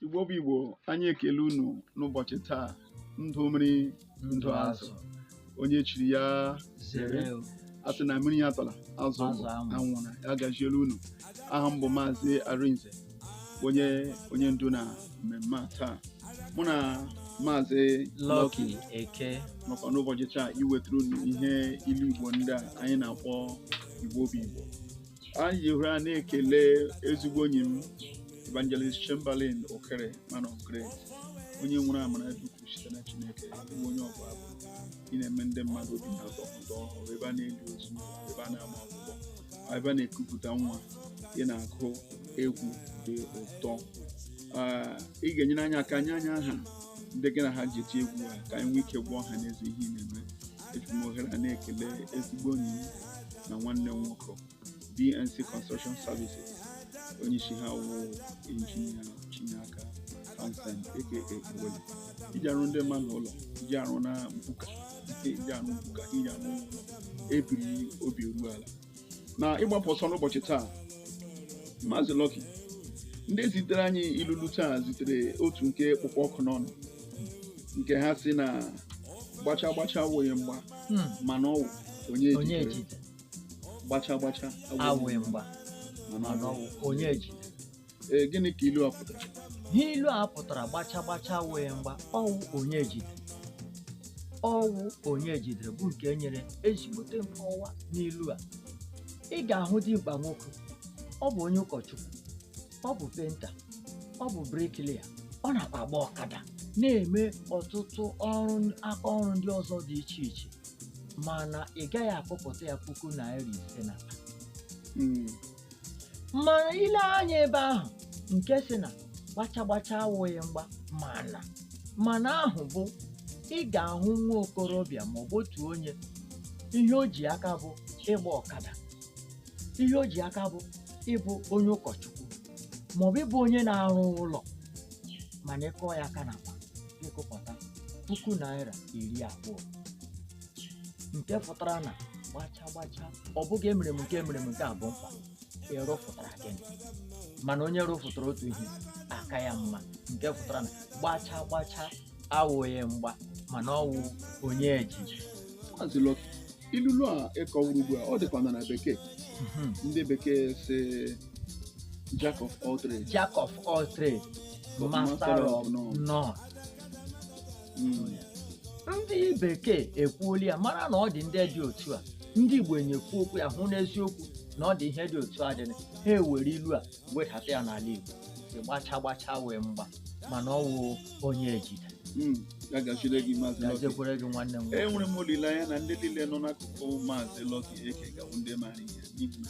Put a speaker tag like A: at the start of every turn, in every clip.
A: igbo bụ igbo anyị ekele unu n'ụbọchị taa ndụ mmiri ndụ azụ onye chiri ya zere asị na mmiri atala azụ Azụ anwụ. anwụla ya gazielu unu aha m bụ maazị arinze onye onye ndu na mmemme a taa mụ na maazị Lucky
B: Eke nọkwa n'ụbọchị
A: taa iwetara unu ihe ilu igbo ndị a anyị na-akpọ igbo bụ igbo anyị ji ohere a na-ekele ezigbo enyi m evangelist chamberlain okere man of grace onye nwere amara dị ukwuu site na chineke bụ onye ọbụ abụ ị na-eme ndị mmadụ obi na-atọ ụtọ ọ wụrụ ebe a na-eli ozu ebe a na-ama akwụkwọ ebe a na-ekupụta nwa ị na-agụ egwu dị ụtọ Ah, ị ga-enyere anyị aka nye anyị aha ndị gị na ha ji eti egwu a ka anyị nwee ike gwa ọha n'eze ihe ị na-eme eji m ohere a na-ekele ezigbo enyi m na nwanne m nwoke DNC Construction Services onye isi ha wụ injinia Chinaka Hansen aka Ogboli iji arụ ndị mmadụ ụlọ iji arụ na mbuka iji arụ mbuka iji arụ ụlọ ebiri obi eru ala na ịgbapụ ọsọ n'ụbọchị taa Maazị Lucky ndị zitere anyị ilulu taa zitere otu nke kpụkpọ ọkụ n'ọnụ nke ha sị na gbacha gbacha awụghị mgba Hmm. mana ọwụ onye onye ejidere ejide gbacha gbacha awụghị mgba mana mana ọwụ ọwụ onye ejide ee gịnị ka ilu a pụtara ihe ilu
B: a pụtara gbacha gbacha awụghị mgba ọwụ onye ejidere ọwụ onye ejidere bụ nke nyere ezigbote nkọwa n'ilu a ị ga-ahụ dimkpa nwoke ọ bụ onye ụkọchukwu ọ bụ penta ọ bụ briklia ọ nakwa agba ọkada na-eme ọtụtụ aka ọrụ ndị ọzọ dị iche iche mana ị gaghị akụpụta ya puku naira ise na Mm. mana i lee anya ebe ahụ nke sị na gbacha gbacha awụghị mgba mana mana ahụ bụ ị ga-ahụ nwa okorobịa ma ọ bụ otu onye ihe o ji aka bụ ịgba ọkada ihe o ji aka bụ ịbụ onye ụkọchukwu ma ọ bụ ịbụ onye na-arụ ụlọ mana ị kụọ ya aka na akpa ị kụpụta puku naira iri abụọ nke pụtara na gbacha gbacha ọ bụghị emere m nke a emere m nke a bụ mkpa ị rụfụtara gịnị mana onye rụfụtara otu ihe aka ya mma nke pụtara na gbacha gbacha awụghị mgba mana ọwụ onye ejide Maazị
A: Lucky, ilulu a ị kọwara ugbu a ọ dịkwa na na bekee Mhm. ndị bekee sị jack of all trades jack of all trades But master
B: of none. none ndị bekee ekwuola ya mara na ọ dị ndị dị otu a ndị igbo enyekwu okwu ya hụ n'eziokwu na ọ dị ihe dị otu a dịrị ha ewere ilu a wedata ya n'ala igbo ịgbacha gbacha wee mgba mana ọ wụ onye ejide Mm, ya
A: gaziere gị maazị Lucky. gaziekwere gị nwanne m nwoke.
B: enwere m olileanya na
A: ndị niile nọ n'akụkụ maazị Lucky Eke ga-abụ ndị maara ihe n'ihi na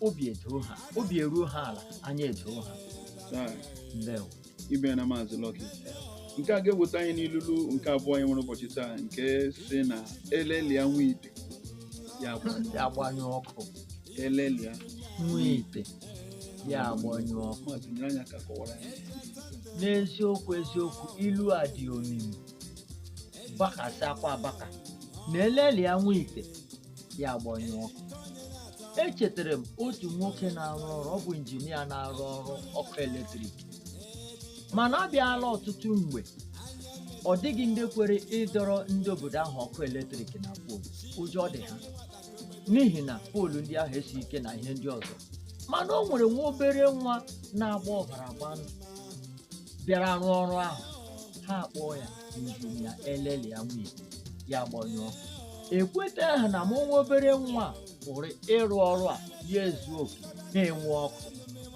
B: obi edoo ha obi eruo ha ala anya edoo ha Taa, ndewo imeela
A: maazị Lucky nke a ga-eweta anyị n'ilulu nke abụọ anyị nwere ụbọchị taa nke sị na elelia nwa ite ya agbanyụ ya agbanyụ
B: ọkụ
A: elelia
B: nwa ite ya agbanyụ ọkụ maazị nyere anyị aka
A: kọwara ya
B: n'eziokwu eziokwu ilu a dị omimi bakasịakwa abaka na elelia nwa ite ya agbanyụ ọkụ echetara m otu nwoke na-arụ ọrụ ọ bụ injinia na-arụ ọrụ ọkụ eletrik mana a bịala ọtụtụ mgbe ọ dịghị ndị kwere ịdọrọ ndị obodo ahụ ọkụ eletrik na poolu ụjọ dị ha n'ihi na poolu ndị ahụ esi ike na ihe ndị ọzọ mana o nwere nwa obere nwa na-agba ọbara agba ndụ bịara rụọ ọrụ ahụ ha akpọọ ya injinia elelia nwa ite ya agbanyụ ọkụ ekwetahụ na ma nwa obere nwa pụrụ ịrụ ọrụ a ya ezu oke na-enwe ọkụ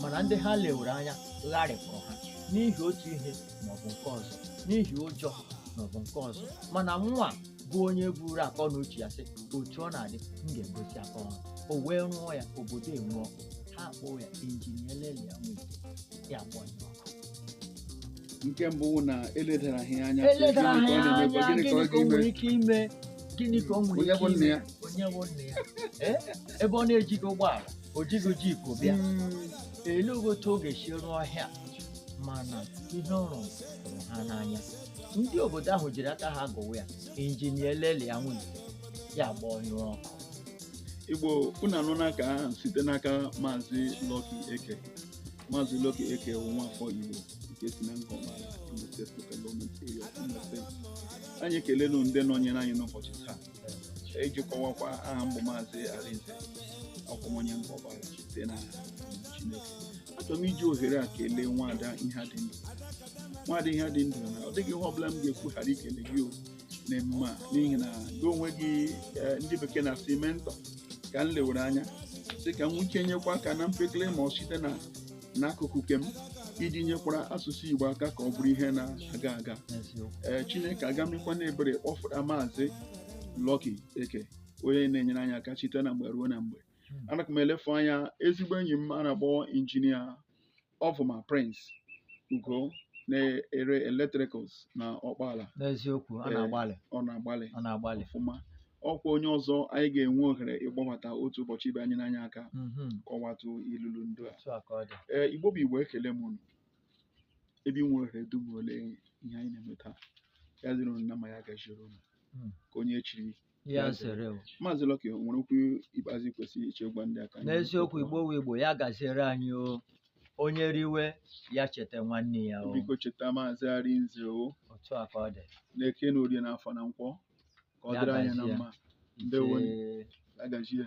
B: mana ndị ha lewere anya gharịpụrụ ha n'ihi otu ihe maọbụ nke ọzọ n'ihi ụjọ maọbụ nke ọzọ mana nwa bụ onye buru akọ na uche ya sị otu ọ na-adị m ga-egosi aka ọrụ o wee rụọ ya obodo enwe ọkụ ha akpọọ ya injinia elelia nwa ite ya gbanyụọ
A: nke mbụ wụ na eledara ha ya anya sị, eledara ha gịnị ya ka ọ na-emekwa?
B: anya Gịnị ka
A: ọ gịnị ka o ga-eme? nwere ike
B: ime gịnị ka o nwere Onye ike bụ nna ime ya? onye bụ
A: nna ya
B: Eh? ebe ọ na-ejighị ụgbọala o jighị jeep bịa ele otu ọ ga-esi rụọ ihe a mana ihe ọ rụrụ tụrụ ha n'anya ndị obodo ahụ jiri aka ha gụwa ya injinia elelia nwa ite ya agbanyụ ọkụ igbo
A: unu anụna nke ahụ site n'aka maazị Lucky Eke Maazị Lucky Eke bụ nwafọ Igbo nke si na Ngọma Imo State Local Government Area of Imo State. Anyị ekelenu ndị nọnyere anyị n'ụbọchị taa iji kọwakwa aha m bụ Maazị Arinze akwụmonye Ngọma site na Chineke. Achọrọ m iji ohere a kelee nwaada ihe dị ndụ. Nwaada ihe dị ndụ na ọ dịghị ihe ọbụla m ga-ekwu ghara ikele gị o n'emume a n'ihi na gị onwe gị eh, ndị bekee na-asị mentor ka m lewere anya sị ka m nwee ike nyekwa aka na mpekele ma ọ site na n'akụkụ nke m iji nyekwara asụsụ Igbo aka ka ọ bụrụ ihe na-aga aga eziokwu ee chineke agamikwa n'ebere kpọfụta maazị Lucky Eke onye na-enyere anyị aka site na mgbe ruo na mgbe Hmm. ana m elefu anya ezigbo enyi m a na-akpọ injinia ọfụma Prince Ugo na-ere electricals na Ọkpala n'eziokwu ọ
B: Ee. na-agbalị ọ na-agbalị ọ na-agbalị
A: ọfụma ọkwa onye ọzọ anyị ga-enwe ohere ịgbabata otu ụbọchị ịbịa nyere anyị aka Mhm. kọwatụ ilulu ndụ a otu a ka ọ dị ee igbo bụ igbo ekele m unu ebe ị nwere ohere dum ole ihe anyị na-eme taa ya dịrị unu na mma ya gaziere unu Mm. ka onye e chiri ya Ya zere. zere
B: o. maazị Lucky o
A: nwere okwu ikpeazụ kwesịrị iche gwa ndị aka n'eziokwu igbo wụ
B: igbo ya gaziere anyị o onye riwe ya cheta nwanne ya o biko cheta
A: maazị Arinze o otu a ka ọ
B: dị n'eke n'orie
A: n'afọ na nkwọ ka ọ Ya dịrị anyị na gazie. mma Ndewo. Ise. ya gazie